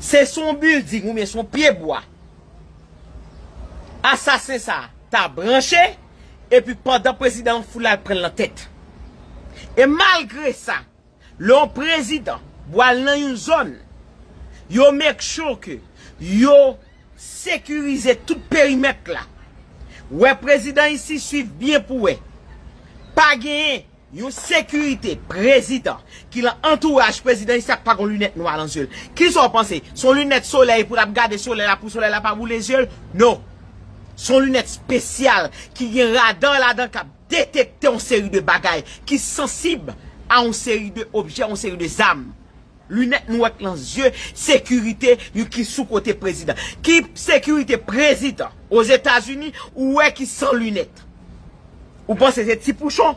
Se sou yon building oubyen sou yon pye bwa asasen sa ta branche epi pandan prezidan an fou la yap pranl nan tèt. E malgre sa lè yon prezidan bwal nan yon zòn yo make sure ke yo sekirize tout perimèt la. Wè prezidan isi swiv byen pou wè pa gen Yon sekirite prezidan ki lan antouraj prezidan Issac pa gon lunèt nwa lan zye l. Kisa w panse? Se yon lunèt solèy pou l ap gade solèy la pou solèy la pa boule zye l? Non. Se yon lunèt spesyal ki gen radar ladan k ap detekte yon seri de bagay ki sansib a yon seri de objè, yon seri de zam. Lunèt nwèt lan zye sekirite yon ki sou kote prezidan. Ki sekirite prezidan ozetazini ou wè ki san lunèt? Ou panse se ti pouchon?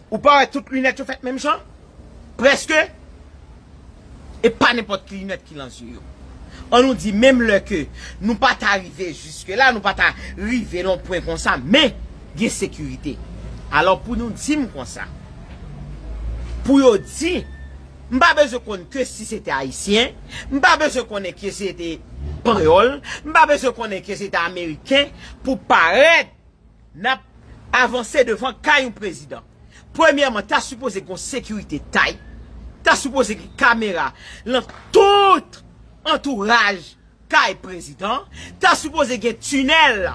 Ou pa wè tout lunèt yo fèt menm jan? Preske? E pa nenpòt ki lunèt ki lan zye yo. An nou di menm lè ke nou pa ta rive jiske la, nou pa ta rive lan yon pwen konsa, men gen sekirite. Alò pou nou di m konsa, pou yo di M pa bezwen konn ke si se te Ayisyen, m pa bezwen konnen ke se te Panyòl, m pa bezwen konnen ke se te Ameriken pou parèt n ap avanse devan kay yon prezidan. Premyèman, ta sipoze gen yon sekirite tay, ta sipoze gen kamera lan tout antouraj Kay prezidan, ta sipoze gen tunèl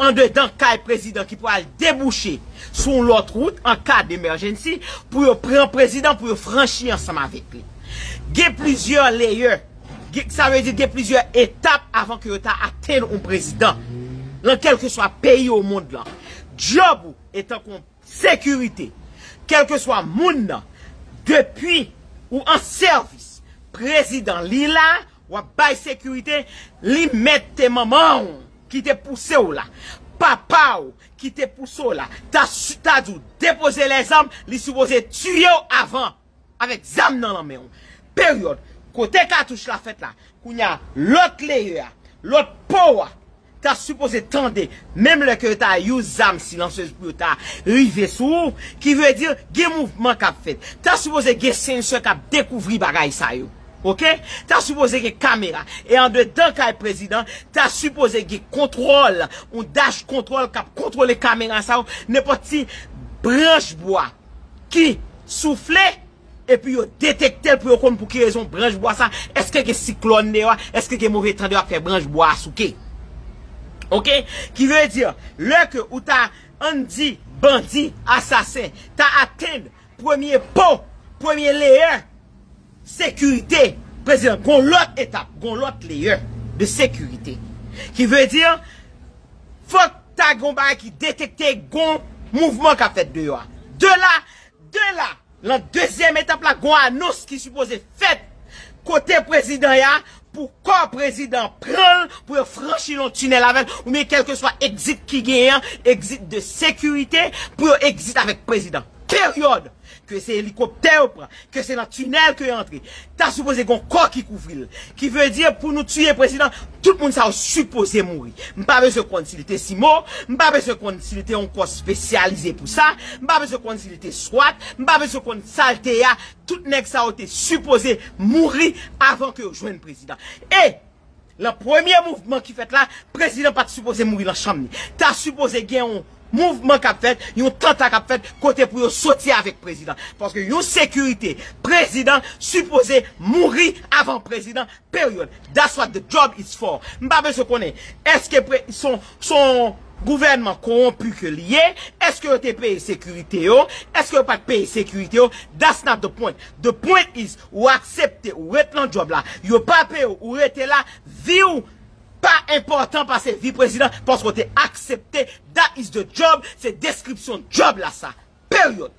andedan kay prezidan ki pral debouche sou yon lòt wout an ka demergency pou yo pran prezidan pou yo franchi ansanm avèk li. Gen plizyè layer, sa vle di gen plizyè etap avan ke yo ta atenn yon prezidan lan kèlkeswa peyi o mond lan. Djòb ou etan kon sekirite, kèlkeswa moun nan, depi ou an sèvis prezidan li la Wap bay sekirite li mèt te manmanw kite pousew la papaw kite pouse w la ta ta diw depoze lèzam li sipoze tiyew avan avèk zam nan lan menw peryòd kote katouch la fèt la kounya lòt leyè a lòt powa ta sipoze tande menm lè ke yo ta use zam silansyez pou yo ta rive sou ou, ki vle di gen mouvman kap fèt. Ta sipoze gen sensè kap dekouvri bagay sa yo. Ok. Ta sipoze gen kamera. E andedan kay prezidan, ta sipoze gen kontwòl, yon dash kontwòl kap kontwole kamera sa yo, nenpòt ti branch bwa ki soufle, Epi yo detekte l pou yo konn pou ki rezon branch bwa sa, èske gen siklòn deyò a, èske gen move tan deyò a k fè branch bwa a souke. Ok? Ki vle di, lè ke ou ta, an n di, bandi, asasen, ta atenn premye po, premye leyè sekirite prezidan, gon lòt etap, gon lòt leyè de sekirite. Ki vle di, fòk ta gon bagay ki detekte gon mouvman k ap fèt deyò a. De la, de la! Lan dezyèm etap la gon anons ki sipoze fèt kote prezidan ya pou kò prezidan an pranl pou yo franchi lon tinèl avèl ou byen kelkeswa exit ki genyen an exit de sekirite pou yo exit avèk prezidan. Peryòd! Ke se elikoptè yo pran, ke se lan tinèl ke yo antre, Ta sipoze gon kò ki kouvril. Ki vle di pou nou tiye prezidan tout moun sa yo sipoze mouri. M pa bezwen konn si li te CIMO, m pa bezwen konn si li te yon kò spesyalize pou sa, m pa bezwen konn si li te swat, m pa bezwen konn sa l te ya, tout nèg sa yo te sipoze mouri avan ke yo jwenn prezidan. E! Lan premye mouvman ki fèt la, prezidan pat sipoze mouri lan chanm li. Ta sipoze gen yon mouvman kap fèt, yon tanta kap fèt kote pou yo soti avèk prezidan. Paske yon sekirite prezidan sipoze mouri avan prezidan period. That's what the job is for. M pa bezwen konnen eske son gouvènman konwonpi ke li ye, eske yo te peye sekirite yo, eske yo pat peye sekirite yo, that's not the point. The point is Ou aksepte ou ret nan djòb la, yo pa peye w ou rete la, vi w pa enpòtan pase vi prezidan paske w te aksepte that is the job, se deskripsyon djòb la sa. Period.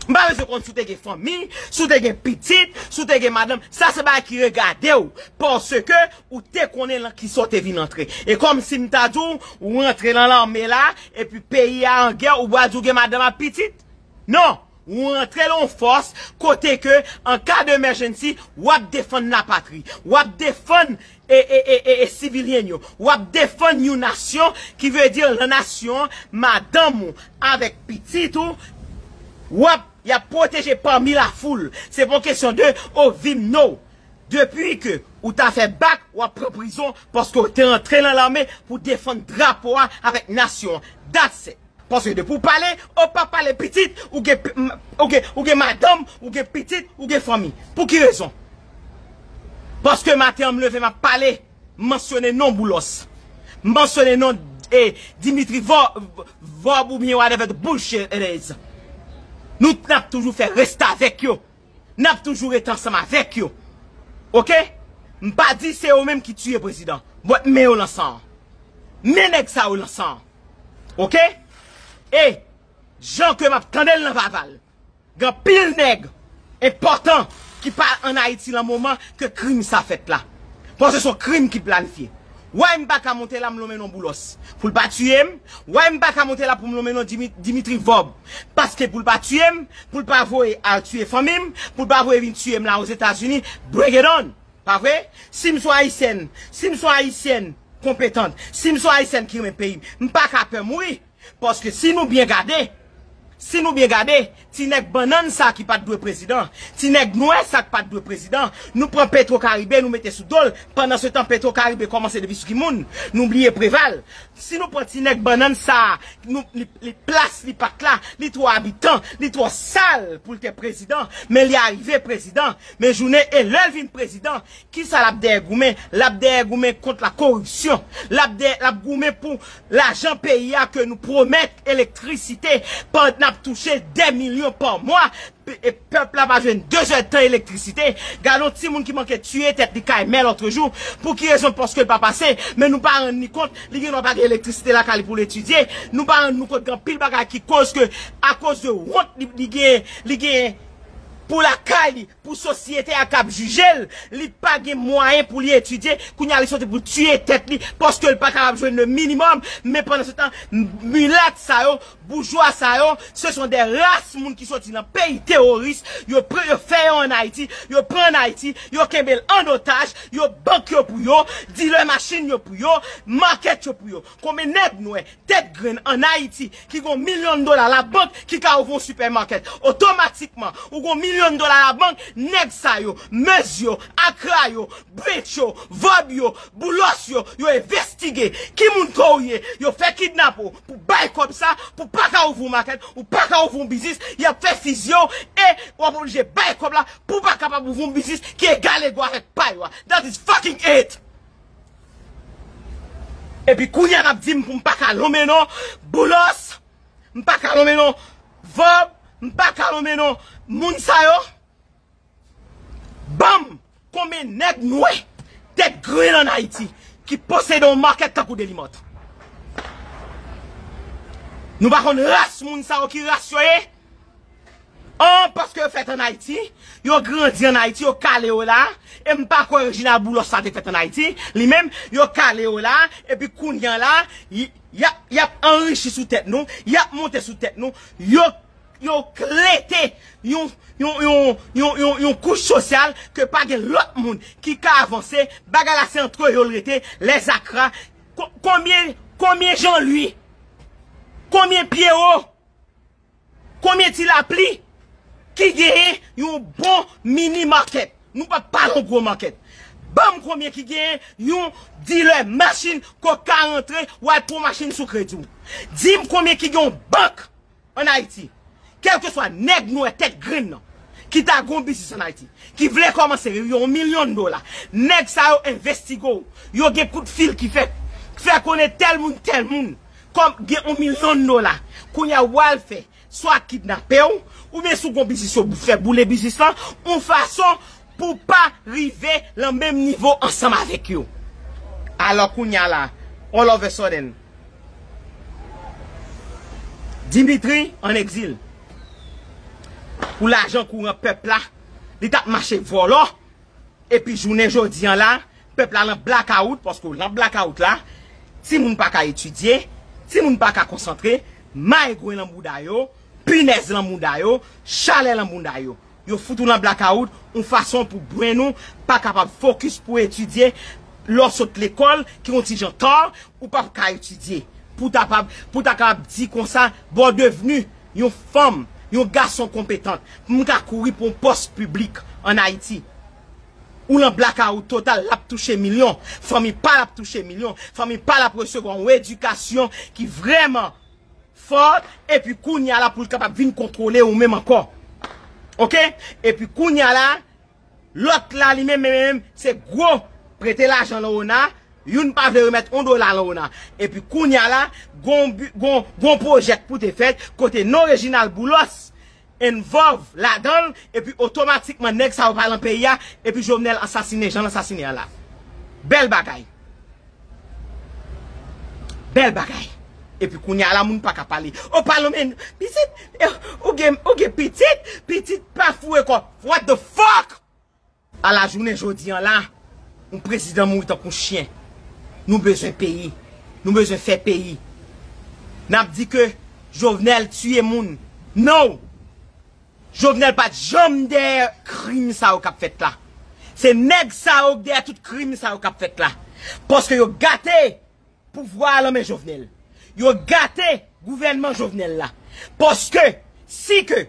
M pa bezwen konn si w te gen fanmi, si w te gen pitit, si w te gen madanm, sa se bagay ki regade w paske ou te konnen lan kisa w te vin antre. E kòm si m ta di w ou rantre lan lame la epi peyi a an gè ou pral di w gen madanm ak pitit? Non! Ou rantre lan yon fòs kote ke an ka de emèjennsi wap defann la patri, wap defann e sivilyen yo, wap defann yon nasyon ki vle di lan nasyon an madanm ou avèk pitit ou wap yap pwoteje pami la foul. Se pa yon kesyon de o vim no. Depi ke ou ta fè bak wap pran prizon paske ou te rantre lan lame pou defann drapo a avèk nasyon an. That's it. Paske depi w pale, ou pa pale pitit, ou gen ou gen madanm, ou gen pitit, ou gen fanmi. Pou ki rezon? Paske maten an m leve m ap pale, m mansyone non Boulos. M mansyone non Dimitri vorb oubyen whatever the bullshit it is. Nou t ap toujou fè restavèk yo. nap toujou ret ansanm avek yo ok m pa di se yo menm ki tiye prezidan but men yo lan san men neg sa yo lan san ok e jan ke map tandel nan vaval gen pil neg enpotan ki pa an ayiti lan moman ke krim sa fet la paske son krim ki planifye Way m paka monte la m lonmen non boulos pou l pa tiye m way m paka monte la pou m lonmen non dimitri vob paske pou l pa tiye m pou l pa voye al tiye fanmi m pou l pa voye vin tiye m la ozetazini bring it on pa vre si m son ayisyèn si m son ayisyèn konpetant si m son ayisyèn ki renmen peyi m m paka pè mouri. Paske si nou byen gade, si nou byen gade, ti nèg bannann sa ki pat dwe prezidan, ti nèg nwè sa ki pat dwe prezidan, nou pran petro karibe nou mete sou dol, pandan se tan petro karibe kòmanse depi sou ki moun, nou bliye preval, si nou pran ti nèg bannann sa nou li plas li pat la, li twò abitan, li twò sal poul te prezidan, men li arive prezidan, men jounen e lèl vin prezidan, Kisa lap dèyè goumen? Lap dèyè goumen kont la koripsyon. Lap dèyè, lap goumen pou lajan peyi a ke nou pwomèt elektrisite pand nap touche 2 milyon pa mwa e pèp la pa jwenn 2 zè tan elektrisite. Gadon timoun ki manke tiye tèt li kay mè lotrejou. Pou ki rezon? Paske l pa pase. Men nou pa rann ni kont li gen dwa pa gen elektrisite lakay li pou l etidye. Nou pa rann nou kont gen anpil bagay ki koz ke akoz de wont li genyen, li genyen pou lakay li. Pou sosyete a kap jije l, li pa gen mwayen pou li etidye, kounye a li soti pou tiye tèt li paske l pa kapab jwenn le minimum, men pandan se tan milat sa yo, boujwa sa yo, se son de ras moun ki soti nan peyi teworis, yo pran yo fè yo an Ayiti, yo pran an Ayiti, yo kenbe l an otaj, yo bank yo pou yo, dilè machin yo pou yo, market yo pou yo. Konbyen nèg nwè, tèt grenn an Ayiti ki gon milyon dola labank ki ka ouvri yon supermarket? Otomatikman, ou gon milyon dola labank, nèg sa yo, Muzz yo, Acra yo, Branch yo, Vob yo, Boulos yo, yo envestige ki moun kò ou ye, yo fè kidnap ou pou bay kòb sa, pou pa ka ouvri yon market, ou pa ka ouvri yon biznis, y ap fè fizye w e w ap oblije bay kòb la pou w pa kapab ouvri yon biznis ki egal ego avèk pa yo a. That is fucking it! Epi kounya nap dim poum pa ka lonmen non boulos m pa ka lonmen non vob m pa ka lonmen non moun sa yo banm konbyen nèg nwè tèt grenn an ayiti ki posede yon market tankou delimòt nou pa konn ras moun sa yo ki ras yo ye. An, paske yo fèt an Ayiti, yo grandi an Ayiti, yo kale yo la, e m pa kwè Reginald Boulos sa te fèt an Ayiti, li menm, yo kale yo la, epi kounye an la, y ap, y ap anrichi sou tèt nou, y ap monte sou tèt nou, yo, yo klete yon, yon, yon, yon, yon, yon kouch sosyal ke pa gen lòt moun ki ka avanse, bagay la se antre yo l rete, lè zakra, kon, konbyen, konbyen Jean Louis, konbyen Pierrot Konbyen ti lapli ki genyen yon bon mini market? Nou pa pa yon gwo market. Banm konbyen ki genyen yon dealer machine ke w ka rantre wal pran yon machine sou kredi w. Dim konbyen ki gen yon bank an Ayiti. Kelkeswa nèg nwè tèt grenn nan ki ta gen yon biznis an Ayiti, ki vle komanse yon yon milyon dola, nèg sa yo envestigo w. Yo gen kout fil ki fèt. Fè konnen tel moun tel moun. Kòm gen on milyon dola kounya wal fè swa kidnapew oubyen sou gon biznis yo fè boule biznis lan on fason pou pa rive lan menm nivo ansanm avèk yo alò kounya la all of a sudden Dimitri an egzil pou lajan kouran pèp la li tap mache vòlò epi jounen jodi an la Pèp la lan blakawout paske w lan blakawout la, ti moun pa ka etidye, ti moun pa ka konsantre, mayegwen lan bouda yo, pinèz lan mouda yo, chalè lan bounda yo. Yo fout ou lan blakawout yon fason pou brenn ou pa kapab fokis pou etidye, lè w sot lekòl ki yon ti jan tar, ou pap ka etidye pou ta pa, pou ta kapab di konsa bon w devni yon fanm, yon gason konpetant pou m ka kouri pou yon pòs piblik an Ayiti. Ou lan blakawout total, lap touche milyon, fanmi pal ap touche milyon, fanmi pal ap resevwa yon edikasyon ki vrèman fò, epi kounya la poul kapab vin kontwole ou menm ankò. Ok, epi kounya la, lòt la li menm menm se gwo prete lajan lan ona, youn pa vle remèt yon dola lan ona. Epi kounya la, gon pwojè k pou te fèt, kote non Reginald Boulos, involve ladanl epi otomatikman nèg sa yo pa lan peyi a epi Jovenel ansasine janl ansasine an la bèl bagay bèl bagay epi kounya la moun paka pale oh pale men pitit ou gen pitit pitit pa foure kò what the fuck. A la jounen jodi an la, yon prezidan mouri tankou yon chyen. Nou bezwen peyi. Nou bezwen fè peyi. N ap di ke Jovenel tiye moun. Non! Jovenel pa t janm dèyè krim sa yo k ap fèt la. Se nèg sa yo k dèyè tout krim sa yo k ap fèt la. Paske yo gate Pouvwa a lan men Jovenel. Yo gate gouvènman Jovenel la. Paske, si ke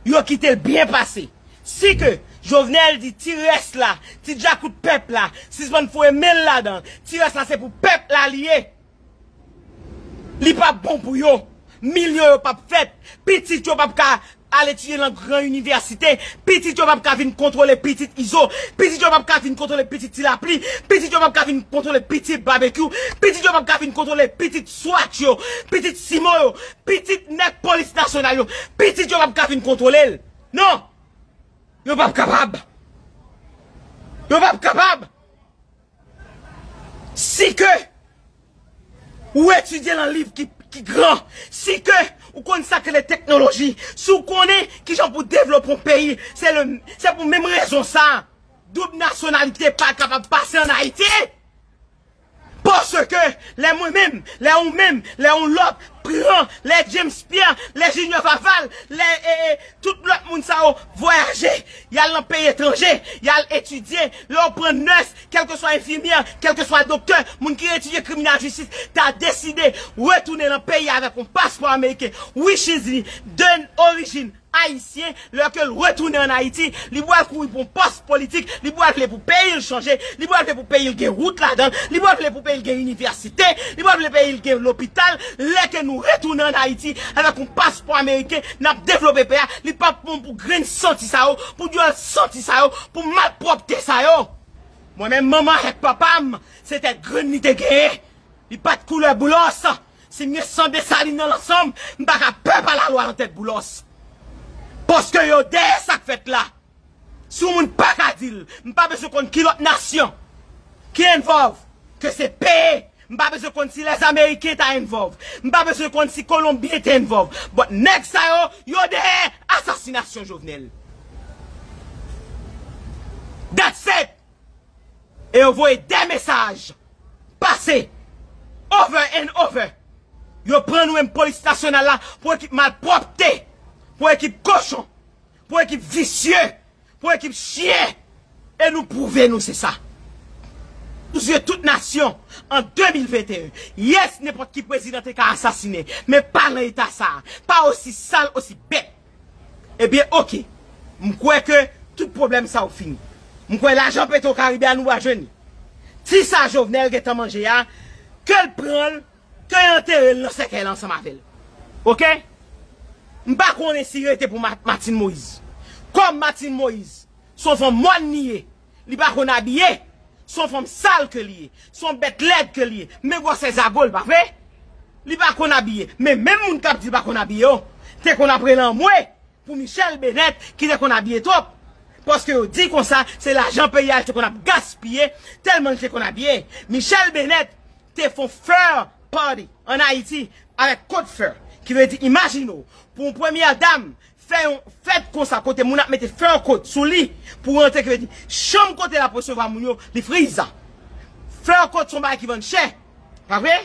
yo kite l byen pase, si ke Jovenel di ti rès la, ti djakout pèp la, sispann foye men l ladan, ti rès la se pou pèp la li ye, li p ap bon pou yo, milyon yo p ap fèt, pitit yo p ap ka Al etidye lan gran inivèsite, pitit yo pap ka vin kontwole pitit Izo, pitit yo pap ka vin kontwole pitit Ti Lapli, pitit yo pap ka vin kontwole pitit Babekyou, pitit yo pap ka vin kontwole pitit Swat yo, pitit Simon yo, pitit nèg polis nasyonal yo, pitit yo pap ka vin kontwole l. Non! Yo pap kapab! Yo pap kapab! Si ke ou etidye lan liv ki gran, si ke ou konn sa k rele teknoloji, si ou konnen ki jan pou devlope yon peyi, se pou menm rezon sa a, doub nasyonalite pa kapab pase an Ayiti! Paske, lè mwen menm, lè ou menm, lè yon lòt pran, lè James Pierre, lè Junior Faval, lè. Tout lòt moun sa yo vwayaje, y al nan peyi etranje, y al etidye, lè yo pran nès, kèlkeswa enfimyè, kèlkeswa doktè, moun ki etidye kriminal jistis ta deside retounen nan peyi a avèk yon paspò ameriken, wi Shizley, de orijin ayisyen, lè ke l retounen ann Ayiti, li pral kouri pou yon pòs politik, li pral vle pou peyi l chanje, li pral vle pou peyi l gen wout ladan l, li pral vle pou peyi l gen inivèsite, li pral vle peyi l gen lopital, lè ke nou retounen ann Ayiti avèk yon paspò ameriken, Nap devlope peyi a li pap bon pou grenn santi sa yo pou dyòl santi sa yo pou malpwòpte sa yo mwen menm manman avèk papam se tèt grenn li te genyen li pat koulè boulòs si m gen san desalin nan lan sanm m paka pè pa lalwa lan tèt boulòs paske yo dèyè sak fèt la. Si yon moun paka dil, m pa bezwen konn ki lòt nasyon ki envòlv, ke se peye, m pa bezwen konn si les ameriken ta envòlv, m pa bezwen konn si kolonbyen te envòlv, but nèg sa yo, yo dèyè asasinasyon Jovenel. That said! E yo voye 2 mesaj pase over and over. Yo pran nou menm polis nasyonal la pou ekip malpwòpte, pou ekip kochon. Pou ekip visye, pou ekip chyen e nou pwouve nou se sa. Sou zye tout nasyon an 2021. Yes nenpòt ki prezidan te ka asasine men pa nan eta sa, pa osi sal, osi bèt. Ebyen ok, m kwè ke tout pwoblèm sa yo fini. M kwè lajan petro karibe a nou va jwenn li. Ti sa Jovenel gentan manje a, ke l pran l. Ke yo antere l nan sèkèy la ansanm avè l. Ok. M pa konnen si rete pou Martine Moïse. Kòm Martine Moïse s on fanm mòn li ye, li pa konn abiye, s on fanm sal ke li ye, s on bèt lèd ke li ye, men gwòsè zago l pa vre? Li pa konn abiye. Men menm moun k ap di l pa konn abiye yo te konn ap rele anmwe. Pou Michelle Bennet ki te konn abiye twòp, paske yo di konsa se lajan peyi a li te konn ap gaspiye tèlman li te konn abiye. Michelle Bennet te fon fur party an Ayiti avèk cote fur ki vle di imajine w pou yon premyè dam fè yon fèt konsa kote moun ap mete fur cote sou li pou rantre ki vle di chanm kote l ap resevwa moun yo li friza. Fur cote se yon bagay ki vann chè pa vre?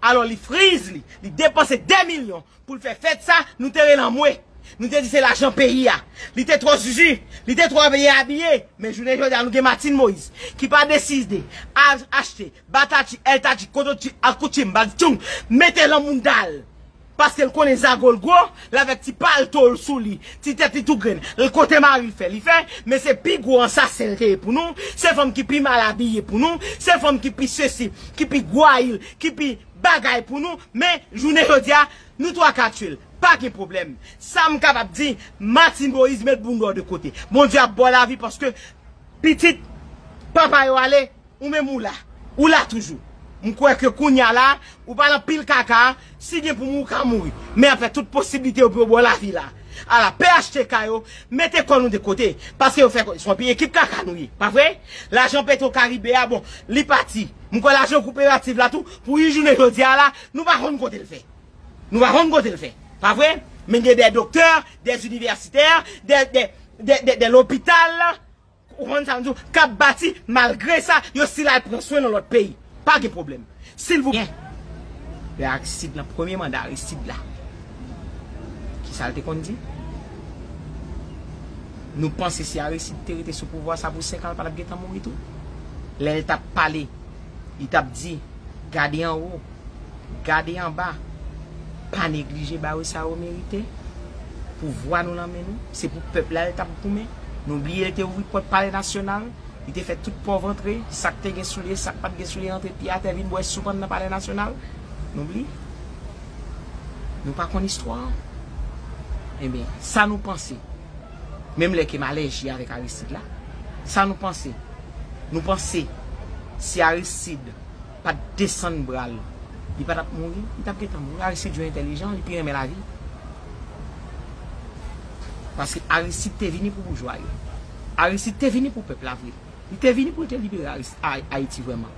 Alò li friz li, li depanse 2 milyon Pou l fè fèt sa, nou te rele anmwe. Nou te di se lajan peyi a. Li te twò zuzu. Li te twò byen abiye. Men jounen jodi a nou gen Martine Moïse ki pa deside al achte batati, èltati, kototi ak koutim bagtchoung mete lan mounda l paske l konnen zago l gwo, l avèk ti palto l sou li, ti tèt li tou grenn, l kote mari l fè li fè. Men se pi gwo ansasen l te ye pou nou. Se fanm ki pi mal abiye pou nou. Se fanm ki pi sesi, ki pi gwayil, ki pi. bagay pou nou men jounen jodia nou 3 ka tiyel pa gen pwoblèm sam kapab di Martine Moïse met bounda w de kote Bondye ap baw lavi paske pitit papa yo ale ou menm ou la ou la toujou m kwè ke kounya la ou pa nan pil kaka si gen pou mouri ou ka mouri men ap fè tout posiblite yo pou yo baw lavi la ala phtk yo mete kò nou de kote paske yo fè konnen se yon ekip kaka nou ye pa vre lajan petro karibe a bon li pati. M kwè lajan koperativ la tou pou yn jounen jodi a la nou pa konn kote l fè. Nou pa konn kote l fè. Pa vre? Men gen dè doktè, dè inivèsitè, dè lopital, ou konn sa m di w, k ap bati malgre sa yo stil al pran swen nan lòt peyi. Pa gen pwoblèm. Silvouplè. Lè Aristide nan premye manda Aristide la. Ki sa l te konn di? Nou panse si Aristide te rete sou pouvwa sa pou 5 an l pa t ap gentan mouri tou? Lè l t ap pale, li t ap di, gade anwo, gade anba, pa neglije ba yo sa yo merite, pouvwa nou nan men nou, se pou pèp la l t ap goumen. Nou bliye l te ouvri pòt palè nasyonal, li te fè tout pòv antre, sa k te gen soulye, sa k pa t gen soulye antre pye atè vin bwè soup anndan palè nasyonal. Nou bliye? Nou pa konn istwa an? Enben, sa nou panse? Menm lè ke m alèji avèk Aristide la, sa nou panse? Nou panse si Aristide pa t desann bra l, li pa t ap mouri? Li t ap gentan mouri. Aristide yo entèlijan, li pi renmen lavi. Paske Aristide te vini pou boujwa yo. Aristide te vini pou pèp la vre. Li te vini pou l te libere Ayiti vrèman.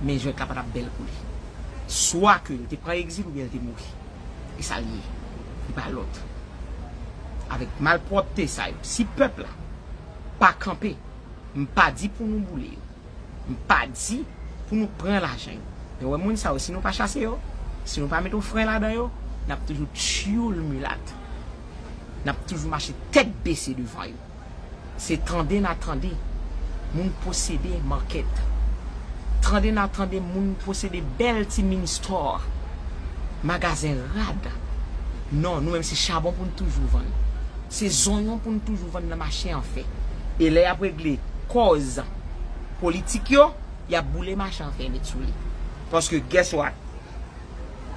Men jwèt la pa t ap bèl pou li. Swa ke l te pran egzil oubyen l te mouri. E sa l ye. Li pa lòt. Avèk malpwòpte sa yo, si pèp la pa kanpe, m pa di pou nou boule yo. M pa di pou nou pran lajan yo. Men wè moun sa yo si nou pa chase yo, si nou pa met yon fren ladan yo, n ap toujou tyoul milat. N ap toujou mache tèt bese devan yo. Se tande n a tande moun posede market. Tande n a tande moun posede bèl ti mini store, magazen rad. Non, nou menm se chabon pou n toujou vann. Se zonyon pou n toujou vann nan mache an fè. E lè y ap regle kòz. politik yo, y ap boule machan fen met sou li. Paske guess what?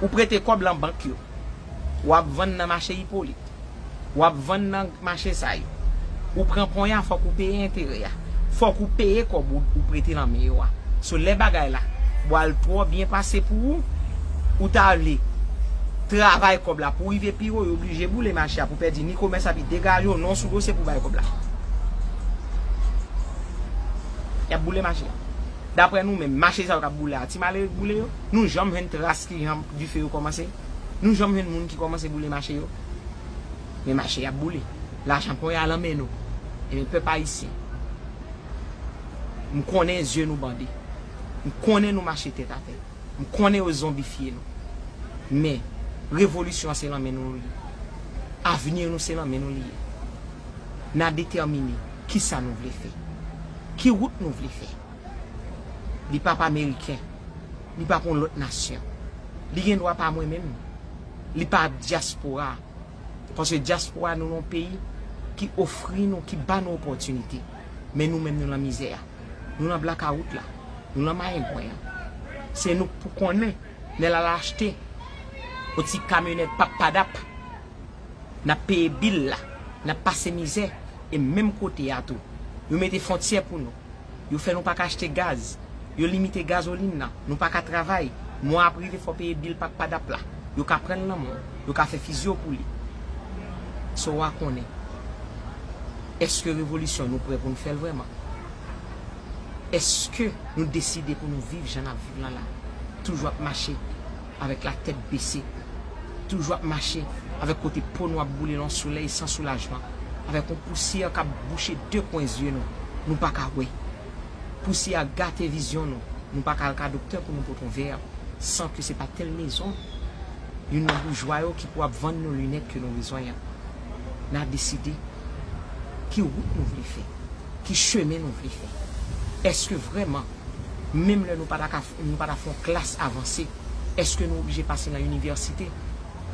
Ou prete kòb lan bank yo. W ap vann nan mache Hyppolite. W ap vann nan mache sa yo. Ou pran ponya fòk ou peye enterè a. Fòk ou peye kòb ou prete nan men yo a. So lè bagay la bwal twò byen pase pou ou, ou ta vle travay kòb la pou rive pi wo, yo blije boule mache a pou pèdi ni komès la pi degaje w non sou dosye pou bay kòb la. Yap boule mache a. Daprè nou menm, mache sa yo kap boule a, ti malere k boule yo? Nou janm jwenn tras kijan dife yo kòmanse? Nou janm jwenn moun ki kòmanse boule mache yo? Men mache yap boule. Lajan pon ya lan men nou. Ebyen pèp ayisyen, m konnen zye nou bande. M konnen nou mache tèt atè. M konnen yo zonbifye nou. Men, revolisyon an se lan men nou li ye. Avni nou se lan men nou li ye. N a detèmine ki sa nou vle fè. Ki wout nou vle fè. Li pa p ameriken. Li pa p yon lòt nasyon. Li gen dwa pa mwen menm. Li pa p dyaspora. Paske dyaspora nou lan yon peyi ki ofri nou, ki ba nou opòtinite. Men nou menm nou lan mizè a. Nou nan blakawout la. Nou nan mayengwen an. Se nou k pou konnen lè l al achte yon ti kamyonèt pappadap. N ap peye bil la. N ap pase mizè. E menm kote a tou. Yo mete fontyè pou nou. Yo fè nou pa ka achte gaz. Yo limite gazolin nan. Nou pa ka travay. Mwa ap rive fò w peye bil pappadap la. Yo ka pran l nan men w. Yo ka fè fizyon pou li. Sa w a konnen? Èske revolisyon nou prè pou n fè l vrèman? Èske nou deside pou nou viv jan n ap viv lan la? Toujou ap mache avèk latèt bese, toujou ap mache avèk kote po nou ap boule lan yon solèy san soulajman, avèk yon pousyè k ap bouche de kwen zye nou, nou pa ka wè. Pousyè a gate vizyon nou, nou pa ka al ka doktè pou nou pote yon vè san ke se pa tèl mezon. Youn nan boujwa yo ki pou ap vann nou linèt ke nou bezwen an. N a deside ki wout nou vle fè, ki chemen nou vle fè. Èske vrèman, menm lè nou pa ta ka, nou pa ta fè yon klas avanse, èske nou oblije pase nan inivèsite?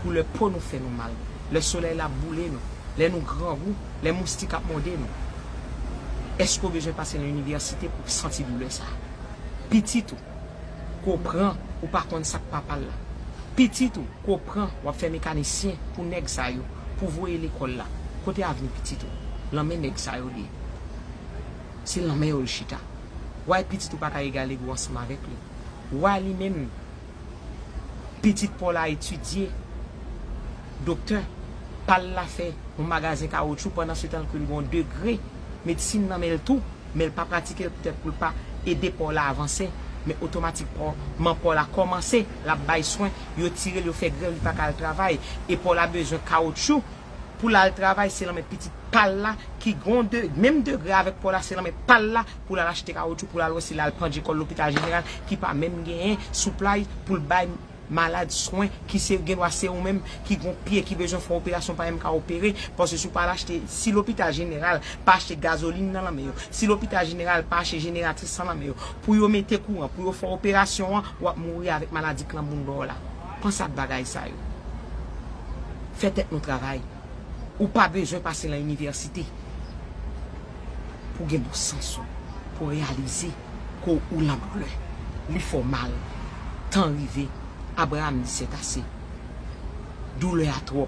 Koulè po nou fè nou mal, lè solèy la boule nou, lè nou grangou, lè moustik ap mòde nou. Èske w bezwen pase nan inivèsite pou w santi doulè sa a? Pitit ou, Kopran ou pa konn sak papal la. Pitit ou kopran wap fè mekanisyen pou nèg sa yo pou voye lekòl la. Kote avni pitit ou? Lan men nèg sa yo li ye. Se lan men yo li chita. Why pitit ou paka egale gou ansanm avèk li? Why li menm pitit paw la etidye doktè pal la fè yon magazen kawotchou pandan se tan ke li gon degre medsin nan menl tou. men l pa pratike l poutèt pou l pa ede pa w la avanse, men otomatik pa w, man pa w la kòmanse, l ap bay swen, yo tire l yo fè grèv li pa ka al travay, e pa w la bezwen kawotchou pou l al travay se lan men pitit pa l la ki gon de menm degre avèk pa w la se lan men pa l la pou l al achte kawotchou pou l al wè si l al pandje kò l lopital jeneral ki pa menm genyen souplay pou l bay Malad swen ki se gen dwa se ou menm ki gon pye ki bezwen fon operasyon pa MK opere paske si w pa al achte si lopital jeneral pa achte gazolin nan lanmen yo si lopital jeneral pa ache jeneratris nan lanmen yo pou yo mete kouran pou yo fè operasyon an wap mouri avèk maladi klanbounda w la panse ak bagay sa yo fè tèt nou travay ou pa bezwen pase lan inivèsite pou gen bon sans ou pou reyalize. Ko ou lap gou li fè w mal tan rive Abraham di sètase doulè a twòp.